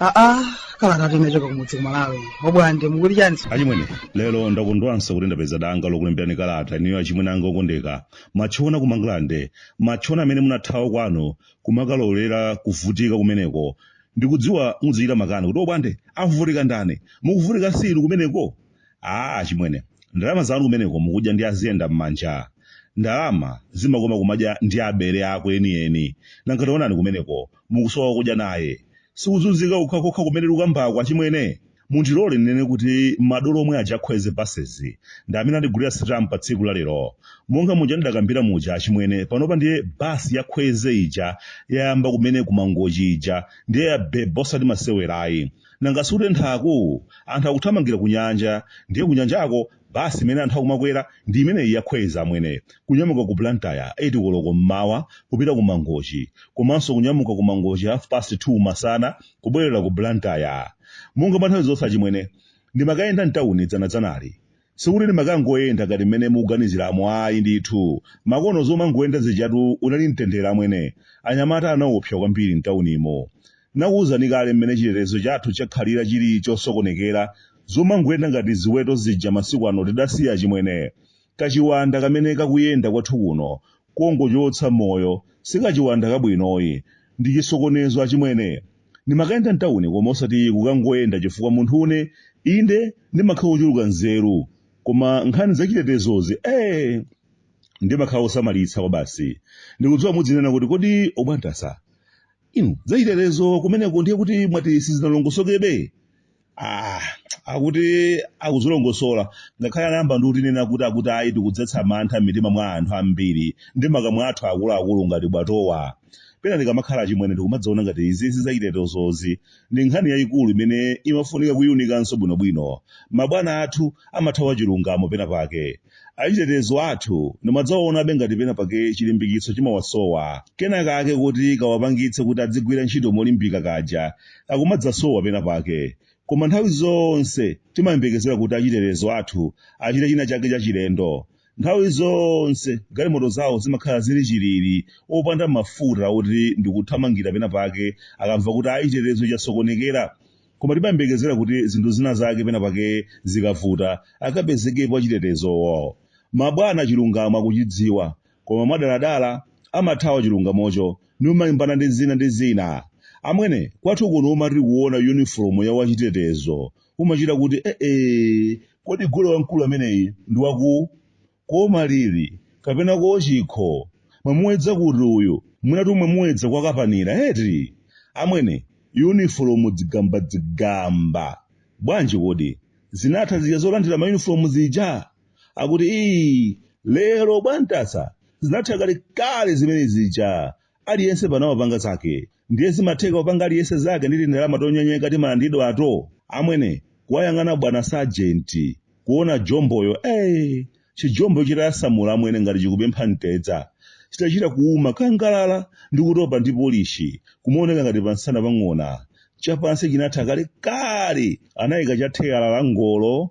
aa kalata tinachoka kumudzi kumalawi obwande mukuli chani achimwene lero ndakondwanso kuti ndapeza danga lokulemberani kalata iniyo achimwene anga okondeka matchona ku mangalande matchona amene munathawa kwanu kumakalolera kuvutika kumeneko ndikudziwa mudzichita makani kuti obwande akuvutika ndani mukuvutika si inu kumeneko aa achimwene ndalama zanu kumeneko mukudya ndi aziyenda m'manja ndalama zimakoma kumadya ndi abale ako enieni nanga taonani kumeneko mukusowa wokudya naye sikuzunzika kokhakokha kumene ndikukambako achimwene mundilole ndinene kuti madolo omwe aja akwezy basezi ndi amene andigulira sitamu pa tsiku la lero monga muja ndidakambira muja achimwene panopa ndiye basi ya kwezy ija yayamba kumene kumangochi ija ndiye ya bebo osati masewerayi nanga si kutenthaku anthu akuthamangira ku nyanja ndiye ku nyanjako Basi imene anthu akumakwera ndi imeneyi ya Kwezy amwene. Kunyamuka ku Blantyre 8 koloko m'mawa kupita ku Mangochi. Komanso kunyamuka ku Mangochi half past 2 masana kubwerera ku Blantyre. Monga nthawi zonse achimwene, ndimakayenda m'tauni dzanadzanali. Sikuti ndimakangoyenda ngati mmene mukuganiziramo ayi ndithu. Makono zomangoyenda zijatu unali mtendere amwene. Anyamata anaopsa kwambiri m'taunimo. Nakuuzani kale mmene chitetezo chathu chakhalira chili chosokonekera zomangoyenda ngati ziweto zija masiku ano tidasiya achimwene. Kachiwanda kamene kakuyenda kwathu kuno kongochotsa moyo si kachiwanda kabwinoyi. Ndi chisokonezo achimwene. Ndimakayenda m'tauni koma osati kukangoyenda chifukwa munthu ine, inde ndimakhala wochuluka nzeru koma nkhani zachitetezozi ee! ndimakhala wosamalitsa kwabasi. Ndikudziwa mudzinena kuti kodi Obwande, inu zachitetezo kumeneko ndiye kuti mwati sizinalongosokebe? Ah, akuti akuzilongosola ngakhale anayamba ndi kutinena kuti akuti ayi tikudzetsa mantha m'mitima mwa anthu ambiri ndi makamwa athu akuluakulu ngati bwatowa pena ndikamakhala achimwene ndikumadzaona ngati izizi zachitetezozi ndi nkhani yayikulu imene imafunika kuyiunikanso bwinobwino mabwana athu amathawa chilungamo pena pake achitetezo athu ndimadzawaonabe ngati pena pake chilimbikitso chimawasowa kena kake kuti kawapangitse kuti adzigwira ntchito molimbika kaja kakumadzasowa pena pake koma nthawi zonse timayembekezera kuti achitetezo athu achite china chake chachilendo nthawi zonse galimoto zawo zimakhala zili chilili opanda mafuta oti ndikuthamangira pena pake akamva kuti chitetezo chasokonekera Koma timayembekezera kuti zinthu zina zake pena pake zikavuta akapezekepo achitetezowo. Mabwana chilungamo akuchidziwa koma mwadaladala amathawa chilungamocho numalimbana ndi zina ndi zina. Amwene, kwathu kuno umati kuona yunifolomu ya wachitetezo umachita kuti eeh, kodi gule wamkulu ameneyi ndi wa ku. kwa malili kapena kwa chikho mwamuwedza kuti uyu mwinatu mwamuwedza kwa kapanira eti amwene yunifolomu dzigambadzigamba bwanji kodi zinatha zija zolandira mayunifolomu zija akuti ii lero bwantasa zinatha kalekale zimene zija aliyense pano amapanga zake ndiye zimatheka kupanga aliyense zake ndi tindalama tonyenyeka timalandidwato amwene kuwayang'ana bwana sajenti kuona jomboyo ey chijombo chitayasamula amwene ngati chikupempha mtedza chitachita kuuma kangalala ndi kutopa ndi polishi kumaoneka ngati pansana pa ng'ona chapansi chinatha kale kale anayika cha theyala la ngolo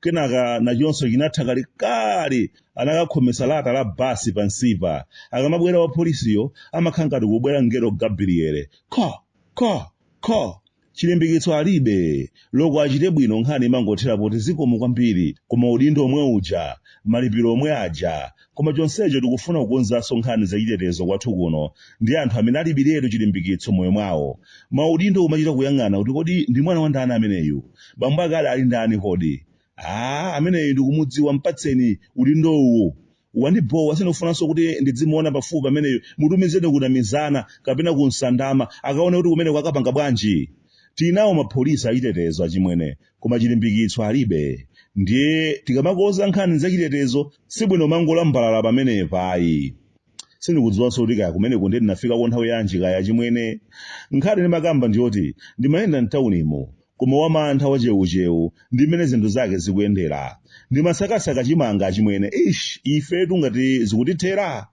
kenaka nachonso chinatha kalekale anakakhometsa lata la basi pansipa akamabwera wapolisiyo amakhala ngati kubwera mngelo gabriele kho kho kho chilimbikitso alibe loko achite bwino nkhani imangothera poti zikomo kwambiri koma udindo omwe uja malipiro omwe aja Koma chonsecho tikufuna kukonzanso nkhani zachitetezo kwathu kuno ndi anthu amene alibiretu chilimbikitso moyo mwawo. Maudindo kumachita kuyang'ana kuti kodi ndi mwana wa ndani ameneyu? Bambo ake ali ali ndani kodi? Aaa ameneyu ndikumudziwa mpatseni udindowu. Wandibhowa sindikufunanso kuti ndidzimuona pafupi ameneyu mutumizeni ku Namizana kapena ku Nsandama akaona kuti kumeneko akapanga bwanji. Tili nawo mapolisi achitetezo achimwene koma chilimbikitso alibe ndiye tikamakonza nkhani zachitetezo sibwino mangolambalala pamenepa ayi sindikudziwanso kuti kaya kumeneko ndiye ndinafikako nthawi yanji kaya chimwene nkhani ndimakamba ndiyoti ndimayenda mtaunimu koma wamantha wachewuchewu ndi mmene zinthu zake zikuyendera ndimasakasaka chimanga chimwene ish ifetu ngati zikutithera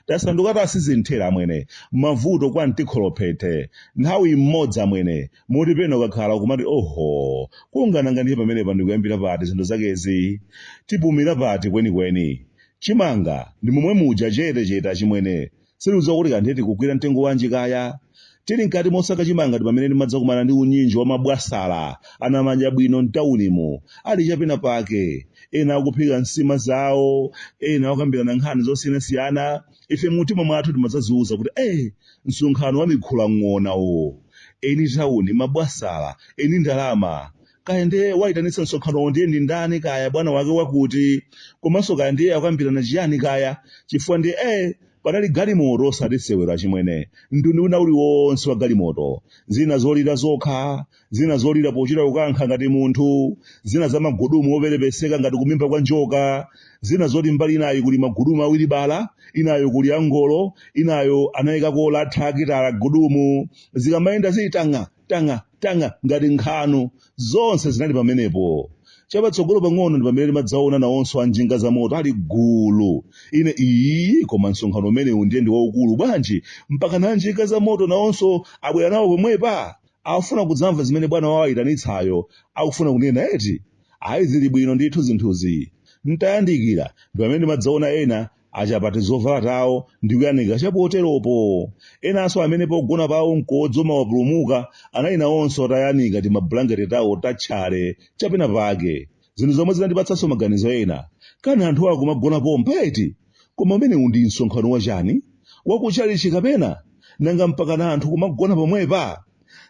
tasanduka tasizinthera amwene mavuto kwa mtikholophethe nthawi imodzi amwene moti pena ukakhala kumati oho kungananga ndiye pamenepa ndikuyambira pati zinthu zakezi tipumira pati kwenikweni chimanga ndi momwe muja chete chete achimwene sitikudziwa kuti kanthe tikugwira mtengo wanji kaya Tili mkati mosaka chimanga ndi pamene ndimadzakumana ndi unyinji wa mabwasala anamadyabwino m'taunimu, ali cha pena pake. Ena akuphika nsima zawo, ena akukambirana nkhani zosiyanasiyana. Ife mumtima mwathu timadzadziuza kuti, Eh, msonkhano wa mikhulang'ona uwu. Eni tauni, mabwasala, eni ndalama. kaya ndiye wayitanitsa msonkhanowo ndiye ndi ndani kaya bwana wake wakuti komanso kaya ndiye akukambirana chiyani kaya chifukwa ndiye eh panali galimoto osati sewera achimwene mtundu wina uliwonse wa galimoto zina zolira zokha zina zolira pochita kukankha ngati munthu zina za magudumu operepeseka ngati kumimba kwa njoka zina zoti mbali inayo kuli magudumu a wilibala inayo kuli angolo inayo anayikako lathakitala gudumu zikamayenda zili tang'a tang'a tang'a ngati nkhanu zonse zinali pamenepo chapatsogolo pang'ono ndi pamene ndimadzaona nawonso anjinga za moto ali gulu ine ii koma msonkhano umenewu ndiye ndi waukulu bwanji mpaka na anjinga za moto nawonso abwera nawo pomwepa akufuna kudzamva zimene bwana wawayitanitsayo akufuna kunena eti ayi zili bwino ndithu zinthuzi ntayandikira ndi pamene ndimadzaona ena achapa tizovala tawo ndi kuyanika chapoteropo enanso amene pogona pawo mkodzo umawapulumuka anali nawonso atayanika timabulangete tawo tatchale chapena pake zinthu zomwe zinandipatsanso maganizo ena kani anthuwa akumagona pompa eti koma umenewu ndi msonkhano wachani wakuchalichi kapena nanga mpaka na anthu kumagona pomwepa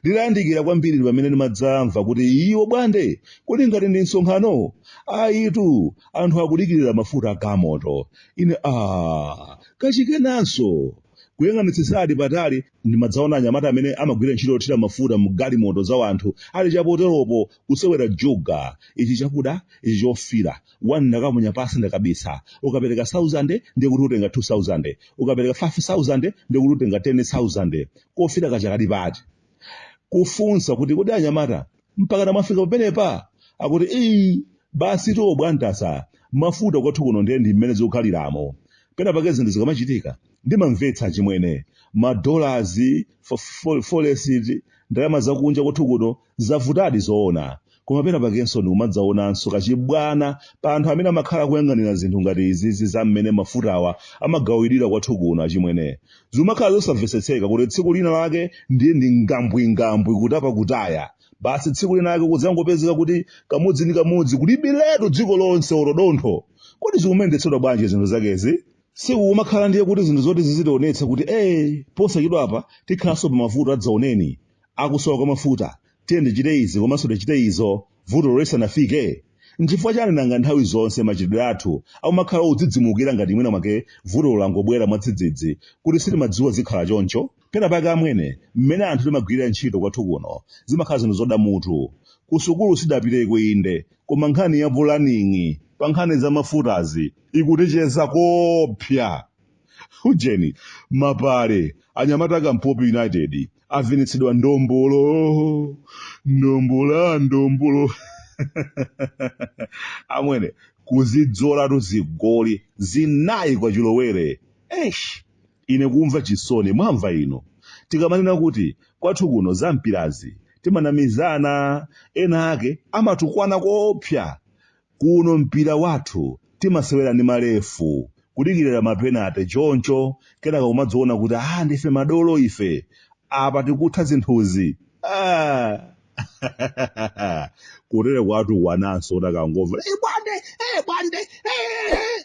nditayandikira kwambiri ndi pamene ndimadzamva kuti ii a Bwande kodi ngati ndi msonkhano ayitu anthu akudikirira mafuta agalimoto ine a kachikenanso kuyang'anitsitsadi patali ndimadzaona anyamata amene amagwira ntchito yothira mafuta mu galimoto za wanthu ali chapoteropo kusewera juga ichi chakuda ichi chofira wani ndakamenya pansi ndakabisa ukapereka 1000 ndiye kuti utenga 2000 ukapereka 5000 ndiye kuti utenga 10000 kofira kaja kali pati kufunsa kuti kodi anyamata mpakana mwafika pamenepa akuti ii basi tiwo bwantasa mafuta kwathu kuno ndiye ndi mmene zikukhaliramo pena pake zinthu zikamachitika ndimamvetsa chimwene madolazi forex ndalama zakunja kwathu kuno Zavutadi zoona, koma pena pakenso ndikumadzaonanso kachibwana pa anthu amene amakhala akuyang'anira zinthu ngati izizi za mmene mafutawa amagawidwira kwathu kuno achimwene. Zikumakhala zosamvetsetseka kuti tsiku lina lake ndiye ndi ngambwingambwi kutapa kutaya. Basi tsiku lina lake kudzangopezeka kuti kamodzi ndi kamodzi kulibiretu dziko lonse olo dontho. Kodi zikumayendetsedwa bwanji zinthu zakezi? Sikukumakhala ndiye kuti zinthu zoti zizitionetsa kuti ee posachedwapa tikhalanso pa mavuto adzaoneni. akusowa kwa mafuta tiyeni tichite izi komanso tichite izo vutolo lisanafike nchifukwa chani nanga nthawi zonse machitidwe athu akumakhala odzidzimukira ngati mwina mwake vutolo langobwera mwadzidzidzi kuti sitimadziwa zikhala choncho pena pake amwene mmene anthu timagwirira ntchito kwathu kuno zimakhala zinthu zoda mutu kusukulu sidapiteko inde koma nkhani ya pulaning'i pa nkhani za mafutazi ikutichedza kopsa ujeni mapale anyamata akampopi united avinitsidwa ndombolo ndombola ndombolo amwene kuzidzolatu zigoli zinayi kwa chilowere esh ine kumva chisoni mwamva inu tikamanena kuti kwathu kuno za mpirazi timanamizana ena ake amatukwana koopsa Kuno mpira wathu timasewera ndi malefu, kudikirira mapenate choncho kenaka kumadziona kuti ah ndife madolo ife, apa tikutha zinthuzi. Ah! Kutere kwatu kunonso utakangomva, eh bwande, eh bwande, eh!